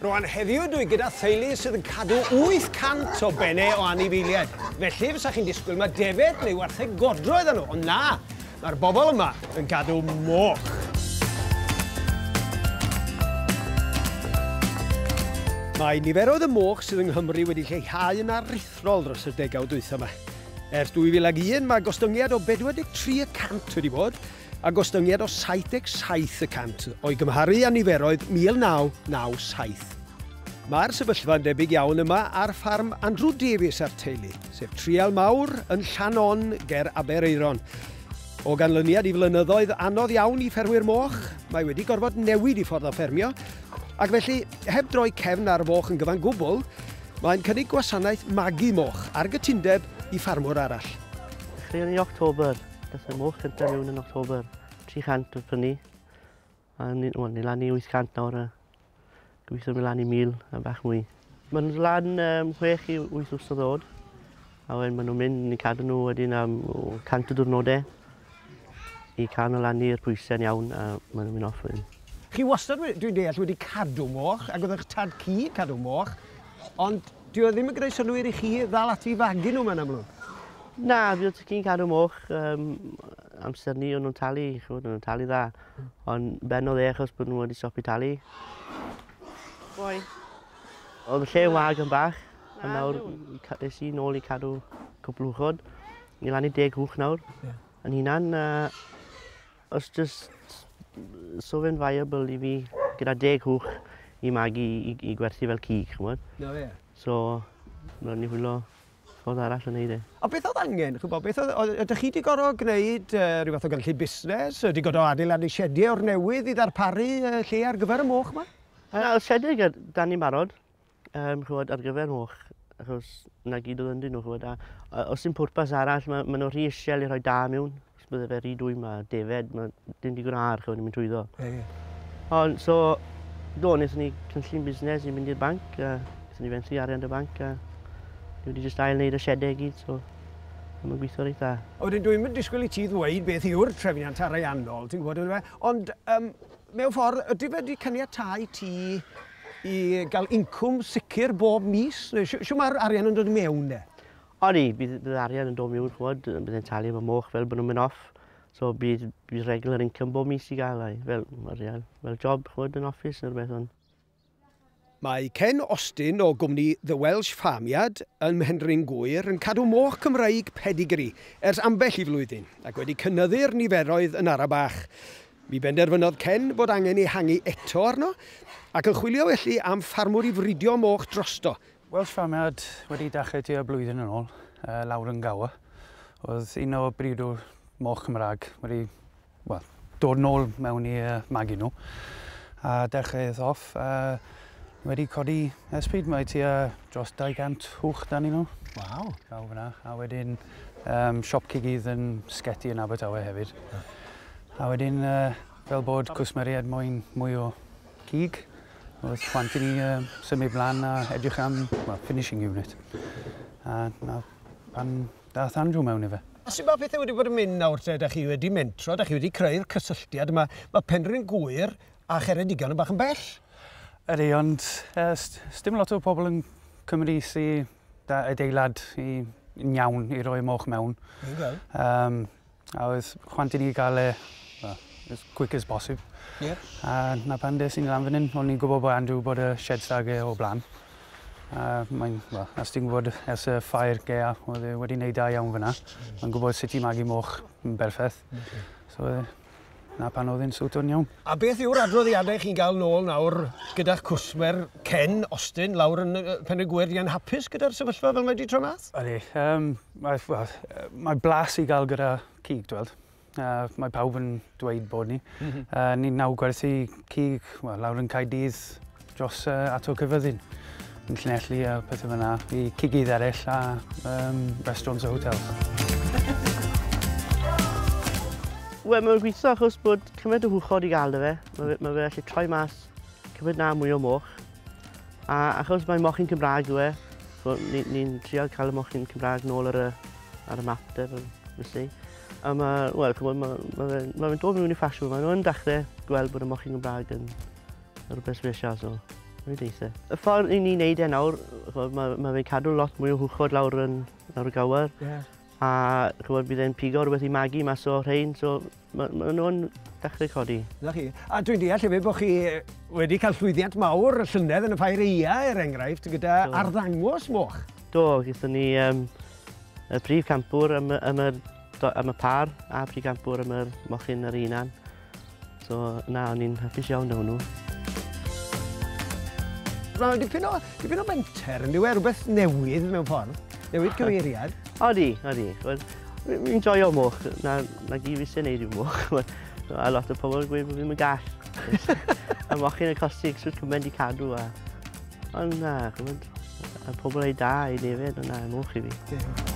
Rwan heddiw dwi gyda theulu sydd yn cadw 800 o benne o anifeiliaid. Felly fysa chi'n disgwyl mae defed neu wartheg godro iddyn nhw, ond na, mae'r bobl yma yn gadw moch. Mae niferoedd y moch sydd yng Nghymru wedi lleihau yn aruthrol dros y degawd dwytha yma. Ers 2001 mae gostyngiad o 43 y cant wedi bod, a gostyngiad o 77 y cant o'i gymharu â niferoedd 1997. Mae'r sefyllfa'n debyg iawn yma ar ffarm Andrew Davies a'r teulu, sef trial mawr yn Llannon ger Aberaeron. O ganlyniad i flynyddoedd anodd iawn i ffermwyr moch, mae wedi gorfod newid i ffordd o ffermio, ac felly, heb droi cefn ar foch yn gyfan gwbl, mae'n cynnig gwasanaeth magu moch ar gytundeb i ffarmwr arall. Chwilio October. Gallai moch cyntaf mewn yn October 300 oedd prynu. A ni, wel, ni lan i 800 nawr a gobeithio mynd lan i 1000 a bach mwy. Maen nhw'n lan um, 6 i 8 wrth o ddod. A wedyn maen nhw'n mynd, ni'n cadw nhw wedyn am 100 o diwrnodau i cael nhw lan i'r pwysau'n iawn a maen nhw'n mynd off wedyn. Chi wastad, dwi'n deall, wedi cadw moch ac oedd eich tad cu cadw moch, ond Dyw o ddim yn gwneud synnwyr i chi ddal ati i fagu nhw 'ma yn amlwg? Na, fi jyst yn cadw moch um, amser ni, o'n nhw'n talu, chymod, o'n nhw'n talu dda. Ond benodd e achos bod nhw wedi stopio talu. Boi. Oedd y lle yn wag yn bach, a ah, nawr es i nôl i cadw cwpl uchod. Ni lan i deg hwch nawr, yn hunan. Uh, Os jyst so fe'n viable i fi gyda deg hwch i magu i, i gwerthu fel cig, chymod? Na fe. So, rhaid ni hwylo ffordd arall yn neud e. A beth oedd angen, chwbo, beth oedd, oedd, ydych chi wedi gorfod gwneud uh, rhyw fath o gynllun busnes? Wedi gorfod adeiladu siediau o'r newydd i ddarparu uh, lle ar gyfer y moch yma? Na, y siediau da ni'n barod. yym ch'mod ar gyfer moch achos 'na gyd odd ynddyn nhw ch'mod a a o's dim pwrpas arall ma' ma' nw rhy isel i rhoi da miwn. Os bydde fe rhy dwym a defaid ma' dim digon o aer ch'mod yn mynd trwyddo. Ie ie. On' so do nethon ni cynllun busnes i mynd i'r banc a nethon ni fenthu arian 'da banc a ni wedi jyst ail neud y siede i gyd so a ma'n gwitho reit dda. A wedyn dwi 'im yn disgwl i ti ddweud beth yw'r trefniant ariannol ti'n gwbod on'd yfe ond yym Mewn ffordd, ydy fe 'di caniatáu ti i gael incwm sicr bob mis? Neu shw- shwt mae'r arian yn dod i mewn de? Odi, bydd, bydd arian yn dod miwn, chwod, bydd e'n talu efo moch fel bod nhw'n mynd off. So bydd, bydd regular income bob mis i gael, ai, fel arian, fel job, chwod, yn office neu rhywbeth, ond Mae Ken Austin o gwmni The Welsh Farmyard ym Mhenrhyn Gŵyr yn cadw moch Cymraeg pedigree ers ambell i flwyddyn ac wedi cynyddu'r niferoedd yn ara bach. Mi benderfynodd Ken fod angen ehangu eto arno ac yn chwilio felly am ffarmwr i fridio moch drosto. Welsh Farmyard wedi dechrau tua blwyddyn yn ôl, Lauren Gower oedd un o briodwyr moch Cymraeg wedi wel, dod nôl mewn i uh, magu nhw a dechreuodd off uh, wedi codi esbryd mae ti uh, dros 200 hwch dan i nhw. Waw. Draw fyna. A wedyn um, siop cigydd yn sgeti yn Abertawe hefyd. Yeah. A wedyn uh, fel bod cwsmeriad moyn mwy o cig, oedd chwant i ni uh, symud blaen a edrych am well, finishing unit. A na, pan Daeth Andrew mewn ife. Sut mae pethau wedi bod yn mynd nawr te? Dach chi wedi mentro, dach chi wedi creu'r cysylltiad yma. Mae Penrhyn Gŵyr a Cheredigion yn bach yn bell. Ydy, ond uh, sdim lot o pobl yn Cymru sy da adeilad i, yn iawn i roi moch mewn. Um, A oedd chwant i ni gael e well, as quick as posib. Yeah. A na pan des i'n lan fan hyn, o'n i'n gwybod bod Andrew bod y shed stag e o blaen. A mae'n, well, as ti'n gwybod ers y ffair gea, oedd e wedi wneud da iawn fyna. Mae'n gwybod sut i magu moch yn berffaith. Okay. So, na pan oedd e'n siwto'n iawn. A beth yw'r adroddiadau chi'n gael nôl nawr gyda'ch cwsmer Ken Austin lawr yn Pen y Gwyr? Di e'n hapus gyda'r sefyllfa fel mae di tro math? Ydy, um, mae, well, mae blas i gael gyda cig, dwi'n Uh, mae pawb yn dweud bod ni. Mm -hmm. uh, ni'n naw gwerthu cig well, lawr yn Caedydd dros uh, ato cyfyddin yn llinelli a pethau fyna i cigydd eraill a um, restaurants a hotels. Wel, mae'n gweithio achos bod cymaint o hwchod i gael fe. Mae fe, ma fe allu troi mas cymaint na mwy o moch. A achos mae mochyn Cymraeg yw e, so ni'n ni, ni trial cael y mochyn Cymraeg nôl ar y, ar y map de, felly. A mae, wel, mae ma, ma fe'n ma fe dod mewn i ffasiwn, mae nhw'n dechrau gweld bod y mochyn Cymraeg yn, Rhywbeth speciasol. Rwy'n deitha. Y ffordd i ni'n neud e nawr, mae ma fe'n cadw lot mwy o hwchod lawr yn lawr y gawr. Yeah. A chwbod, bydd e'n pigo rhywbeth i magu mas o rhain, so mae ma nhw'n dechrau codi. Na chi. A dwi'n deall hefyd bod chi wedi cael llwyddiant mawr y llynedd yn y ffair eia, er enghraifft, gyda so. arddangos moch. Do, gyda ni um, y prif campwr am, am, y, am y par a prif campwr am y mochyn yr unan. So, na, o'n i'n hapus iawn o hwnnw. Mae'n dipyn o, dipyn o menter, yn diwy, e? rhywbeth newydd mewn ffordd, newid cyfeiriad. Odi, odi. Mi'n joio moch, na, na gyd fi sy'n neud i'w moch. a lot o pobl yn gweud bod fi'n mynd gall. a moch yn y costi eich sŵt cymryd i cadw. A... Ond na, chymryd, a pobl ei da i nefyd, ond na, moch i fi. Yeah.